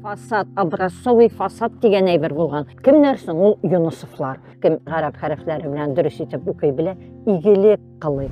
фасад образцовый фасад дигән әйбер булган кемнәр соң ул юнусовлар кем гарәп хәрефләре белән дөрес итеп укый белә игелек кылый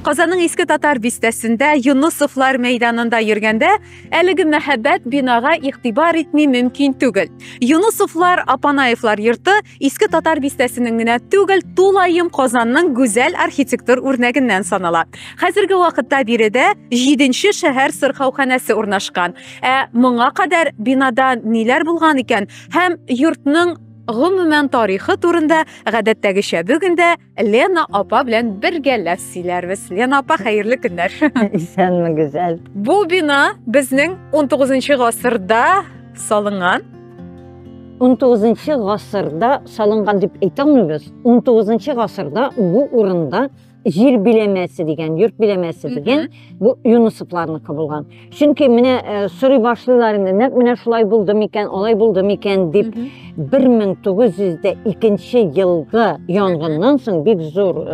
Казанның иске татар бистәсендә Юнусовлар мәйданында йөргәндә Әлеге мәхәббәт бинага игътибар итми мөмкин түгел. Юнусовлар, Апанаевлар йорты иске татар бистәсенең генә түгел, тулаем Казанның гүзәл архитектур үрнәгеннән санала. Хәзерге вакытта биредә 7нче шәһәр сырхауханәсе урнашкан. Ә моңа кадәр бинада ниләр булган икән һәм йортның гомумән тарихы турында гадәттәгечә бүген дә Лена апа белән бергәләп сөйләрбез. Лена апа, хәерле көннәр. Исәнме, гүзәл. Бу бина безнең 19 гасырда салынган. 19 гасырда салынган дип әйтә алмыйбыз. 19 гасырда бу урында җир биләмәсе дигән, йорт биләмәсе дигән, бу Юнусовларныкы булган. чөнки менә э, сорый башлыйлар инде нәкъ менә шулай булды микән алай булды микән дип 1902 елгы янгыннан соң бик зур э,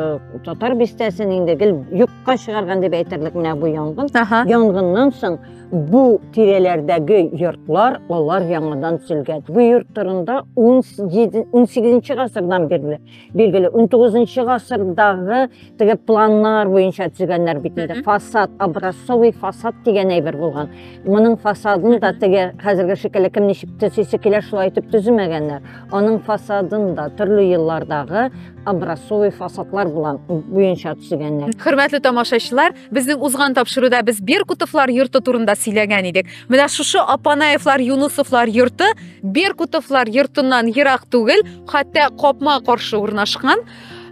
татар бистәсен инде гел юкка чыгарган дип әйтерлек менә бу янгын янгыннан соң бу тирәләрдәге йортлар алар яңадан төзелгән бу йорт турында 18 гасырдан бирле Билгеле, 19-нчы гасырдагы теге планнар буенча төзегәннәр бит инде. Фасад, образцовый фасад дигән әйбер булган. Моның фасадын да теге хәзерге шикелле кем ничек төзисе килә шулай итеп төземәгәннәр. Аның фасадын да төрле еллардагы образцовый фасадлар булган буенча төзегәннәр. Хөрмәтле тамашачылар, безнең узган тапшыруда без Беркутовлар йорты турында сөйләгән идек. Менә шушы Апанаевлар, Юнусовлар йорты Беркутовлар йортыннан ерак түгел, хәтта капма каршы урнашкан.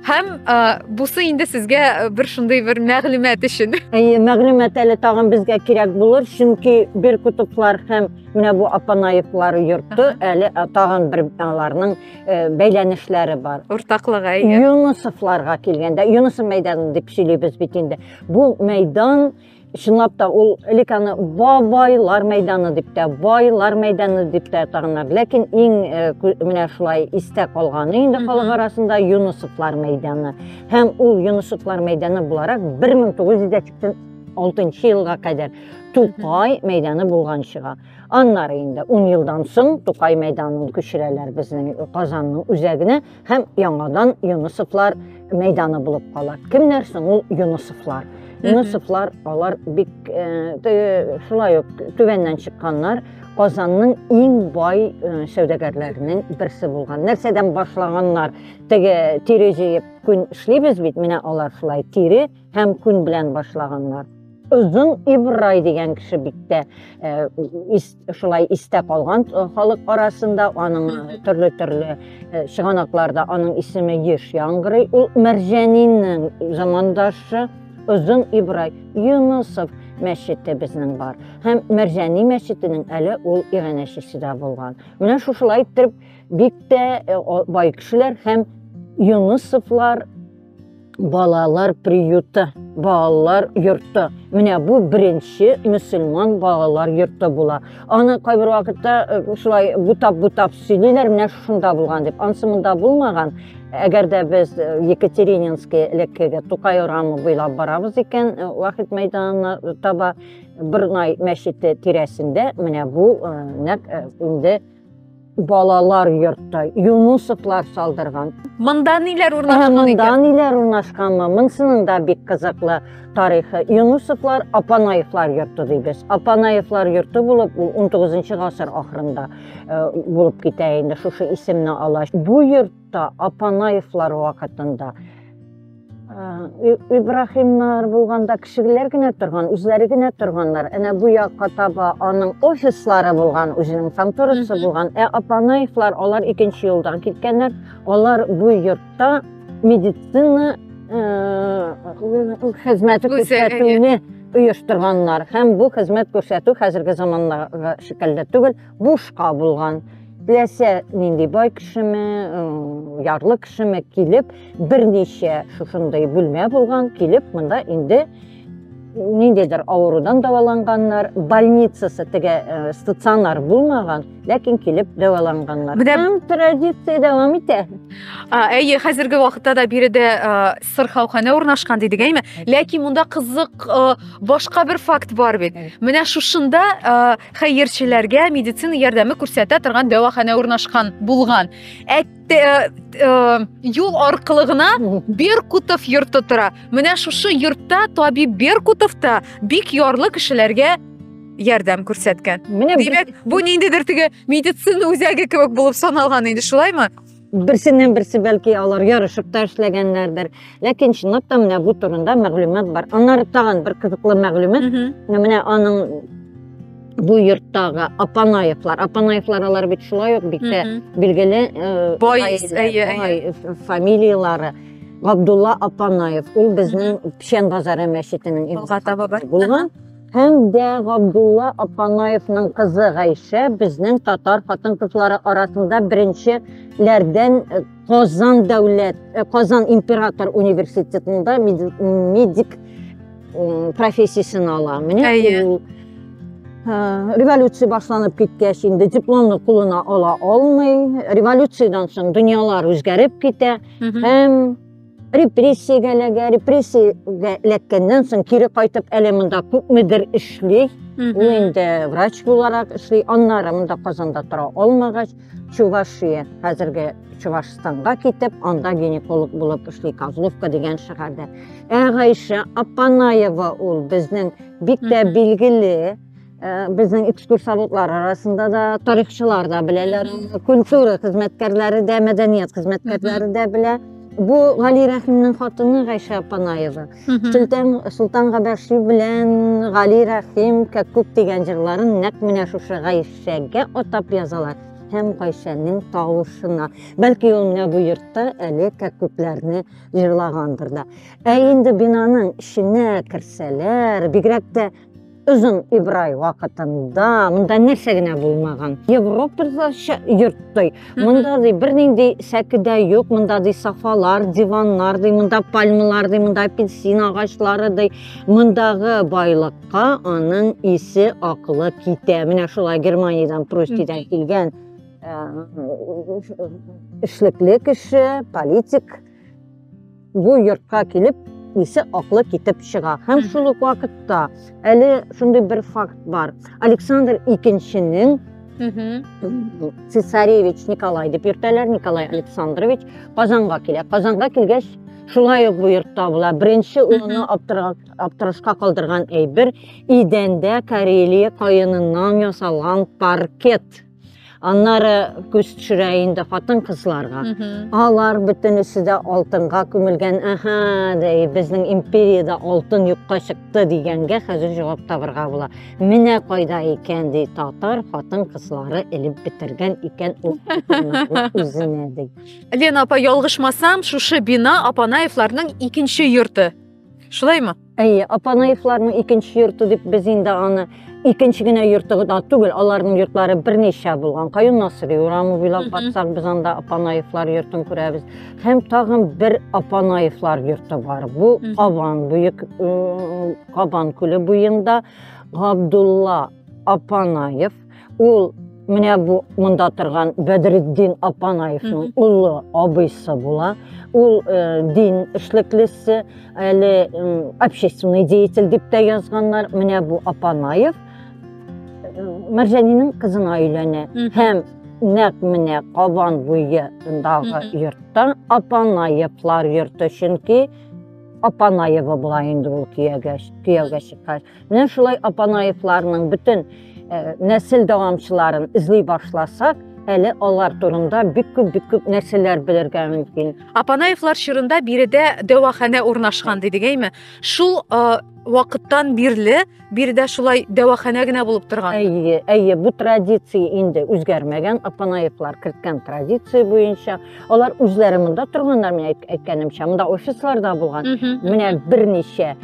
Һәм ә, бусы инде сезгә э, бер шундый бер мәгълүмат өчен. Әйе, мәгълүмат әле тагын безгә кирәк булыр, чөнки Беркутовлар һәм менә бу Апанаевлар йорты әле э, тагын бер аларның э, бәйләнешләре бар. Уртаклыгы әйе. Юнусовларга килгәндә, Юнусов мәйданы дип сөйлибез бит инде. Бу мәйдан чынлап та ул элек аны бабайлар мәйданы дип тә байлар мәйданы дип тә атаганнар ләкин иң менә шулай истә калганы инде халык арасында юнысовлар мәйданы һәм ул юнысовлар мәйданы буларак бер мең тугыз йөз дә сиксән алтынчы елга кадәр тукай мәйданы булган чыга аннары инде ун елдан соң тукай мәйданын күчерәләр безнең казанның үзәгенә һәм яңадан Юнусовлар мәйданы булып кала. Кемнәр соң ул Юнусовлар? Юнусовлар алар бик э, шулай ук түбәннән чыкканнар. Казанның иң бай э, сәүдәгәрләренең берсе булган. Нәрсәдән башлаганнар? Теге тире җыеп күн эшлибез бит, менә алар шулай тире һәм күн белән башлаганнар. Озын Ибрай дигән кеше бик тә э, шулай истә калган э, халык арасында аның э, төрле төрле э, чыганакларда аның исеме еш яңгырый ул мәрҗәниннең замандашы озын ибрай юнусов мәчете безнең бар һәм мәрҗәни мәчетенең әле ул иганәчесе дә булган менә шушылай иттереп бик тә бай кешеләр һәм юнусовлар Балалар приюты, балалар йорты. Менә бу беренче мөселман балалар йорты була. Аны кайбер вакытта э, шулай бутап-бутап сөйлиләр, менә шунда булган дип. Ансы монда булмаган. Әгәр дә без э, Екатерининский элеккеге Тукай урамы буйлап барабыз икән, э, вахит мәйданына таба Бырнай мәчете тирәсендә менә бу нәк инде Балалар йортта Юнусовлар салдырган. Монда ниләр урнашкан икән? Монда ниләр урнашканмы? Монсының да бик кызыклы тарихы. Юнусовлар Апанаевлар йорты дибез. Апанаевлар йорты булып, ул 19 гасыр ахырында э, булып китә инде, шушы исемне ала. Бу йорт Та Апанаевлар вакытында э, Ибрахимнар булганда кешеләр генә торган, үзләре генә торганнар. Әнә бу якка таба аның офислары булган, үзенең конторасы булган. Ә Апанаевлар алар икенче юлдан киткәннәр. Алар бу йортта медицина э, хезмәте күрсәтүне оештырганнар. Һәм бу хезмәт күрсәтү хәзерге заманнагы шикелле түгел. бушка булган теләсә нинди бай кешеме ярлы кешеме килеп берничә шушындый бүлмә булган килеп монда инде ниндидер авырудан дәваланганнар больницасы теге э, стационар булмаган ләкин килеп дәваланганнар менә һәм традиция дәвам итә әйе хәзерге вакытта да биредә э, сырхауханә урнашкан дидек әйме ләкин монда кызык э, башка бер факт бар бит менә шушында хәерчеләргә медицина ярдәме күрсәтә торган дәваханә урнашкан булган. Ә э, э, юл аркылы гына Беркутов йорты тора. Менә шушы йортта табиб Беркутов та бик ярлы кешеләргә ярдәм күрсәткән. Менә димәк, бу ниндидер теге медицина үзәге кебек булып саналган инде, шулаймы? берсеннән берсе бәлки алар ярышып та эшләгәннәрдер ләкин чынлап та менә бу турында мәгълүмат бар аннары тагын бер кызыклы мәгълүмат менә аның бу йорттагы апанаевлар апанаевлар алар бит шулай ук бик тә билгеле э, бай фамилиялары габдулла апанаев ул безнең печән базары мәчетенең булган Һәм дә Габдулла Апанаевның кызы Гайшә безнең татар хатын-кызлары арасында беренче ләрдән э, Казан дәүләт, э, Казан император университетында медик профессиясен ала. Менә ул э, революция башланып киткәч инде дипломны кулына ала алмый. Революциядән соң дөньялар үзгәреп китә һәм репрессиягә эләгә репрессиягә эләккәннән соң кире кайтып әле монда күпмедер эшли ул инде врач буларак эшли аннары монда казанда тора алмагач чувашия хәзерге чувашстанга китеп анда гинеколог булып эшли козловка дигән шәһәрдә ә гайшә апанаева ул безнең бик тә билгеле безнең экскурсоводлар арасында да тарихчылар да беләләр культура хезмәткәрләре дә мәдәният хезмәткәрләре дә белә бу гали рәхимнең хатыны гайшә апанаева солтан солтан габәши белән гали рәхим кәккүк дигән җырларын нәкъ менә шушы гайшәгә атап язалар һәм гайшәнең тавышына бәлки ул менә бу йортта әле кәккүкләрне җырлагандыр да ә инде бинаның эченә керсәләр бигрәк тә Озын Ибрай вакытында монда нәрсә генә булмаган. Европадагыча йорттай. Монда ди бернинди сәкедә юк, монда ди сафалар, диваннар ди, монда пальмалар ди, монда апельсин агачлары ди. Мондагы байлыкка аның исе акылы китә. Менә шулай Германиядән Прустидан килгән э, эшлекле кеше, политик бу йортка килеп исе аклы китеп чыга һәм шул ук вакытта әле шундый бер факт бар александр икенченең цесаревич николай дип йөртәләр николай александрович казанга килә казанга килгәч шулай ук бу йортта була беренче улыны аптырашка калдырган әйбер идәндә карелия каеныннан ясалган паркет Аннары күз төшерә инде хатын-кызларга. Алар бөтенесе дә алтынга күмелгән. Аһа, дәй, безнең империядә алтын юкка чыкты дигәнгә хәзер җавап табырга була. Менә кайда икән ди татар хатын-кызлары элеп бетергән икән ул үзенә ди. Лена апа, ялгышмасам, шушы бина Апанаевларның икенче йорты. Шулаймы? Әйе, Апанаевларның икенче йорты дип без инде аны икенче генә йорты гына түгел, аларның йортлары берничә булган. Каюм Насыйри урамы буйлап батсак, без анда Апанаевлар йортын күрәбез. Һәм тагын бер Апанаевлар йорты бар. Бу Кабан буек Кабан күле буенда Габдулла Апанаев Ул менә бу монда торган Бәдретдин Апанаевның улы абыйсы була. Ул э, дин эшлеклесе, әле э, общественный деятель дип тә язганнар. Менә бу Апанаев э, Мәрҗәнинең кызына өйләнә һәм нәкъ менә Кабан буендагы йортта Апанаевлар йорты, чөнки Апанаева була инде ул кияүгә чыккач. Менә шулай Апанаевларның бөтен э, нәсел дәвамчыларын эзли башласак, әле алар турында бик күп бик күп нәрсәләр белергә мөмкин. Апанаевлар чорында биредә дәваханә урнашкан дидек әйме? Шул э, вакыттан бирле биредә шулай дәваханә генә булып торган. Әйе, әйе, бу традиция инде үзгәрмәгән. Апанаевлар керткән традиция буенча алар үзләре монда торганнар, мин әйткәнемчә, монда офисларда булган. Менә берничә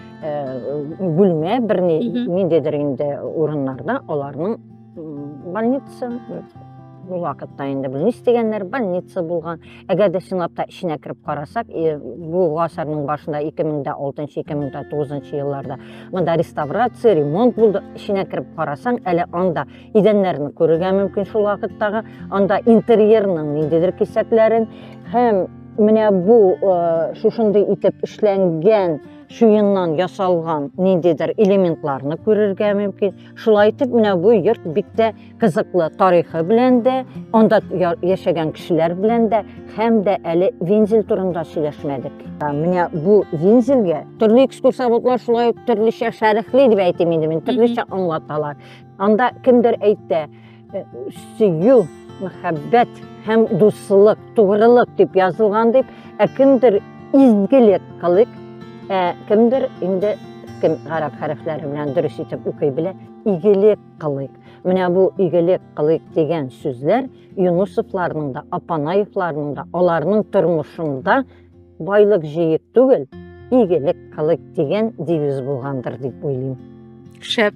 бүлмә бер ниндидер инде урыннарда аларның больница бу вакытта инде бу дигәннәр больница булган әгәр дә чынлап та эченә кереп карасак бу гасырның башында 2006-2009 елларда монда реставрация ремонт булды эченә кереп карасаң әле анда идәннәрне күрергә мөмкин шул вакыттагы анда интерьерның ниндидер кисәкләрен һәм менә бу шушындый итеп эшләнгән шуеннан ясалган ниндидер элементларны күрергә мөмкин. Шулай итеп, менә бу йорт бик тә кызыклы тарихы белән дә, анда яшәгән кешеләр белән дә һәм дә әле вензель турында сөйләшмәдек. Менә бу вензельгә төрле экскурсоводлар шулай төрлечә шәрехли дип әйтим инде мин, төрлечә аңлаталар. Анда кемдер әйтә, Э, сөю, мәхәббәт һәм дуслык, тугрылык дип язылган дип, ә кемдер изгелек кылык, ә кемдер инде кем гарәп хәрефләре белән дөрес итеп укый белә, игелек кылык. Менә бу игелек кылык дигән сүзләр Юнусовларның да, Апанаевларның да, аларның тормышында байлык җыек түгел, игелек кылык дигән девиз булгандыр дип уйлыйм. Шәп